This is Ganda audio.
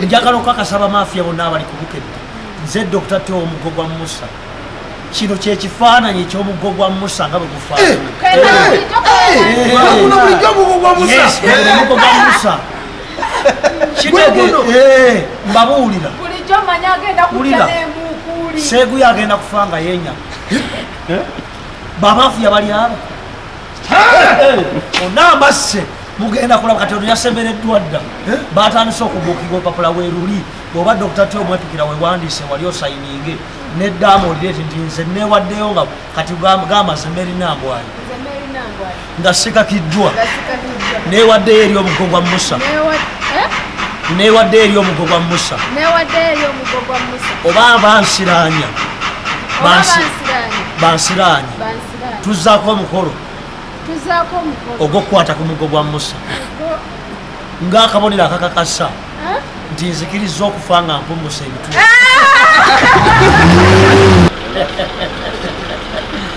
njagala okukakasa bamafiya bonna abali kubukedde nze dokita teo omuggo gwa musa kino kyekifaananyi ekyomuggo gwa musa nga bwe gufaananaomuggo gwa musa kitegeeno mbabuulira ulira seeguyo agenda kufa nga yenyama bamafiya bali abo onambasse mugenda kulaba kati oyasemereddwa dda eh? batandise okubuukiga olupapula weruli bwoba dokita ti omwepikira wewandiise wali osayininge neddaama olireti nti nze newaddeyo nga kati gamaze merinambwayo nga sikakiddwa newaddeyo eri omugo gwa musa eh? newaddeyo eri omugo gwa musa oba bansiranya bansiranya tuzzaako omukolo ogw'okukwata ku mugo gwa musa ng'akabonero akakakasa nti nzikiriza okufa nga mpumusa ebitu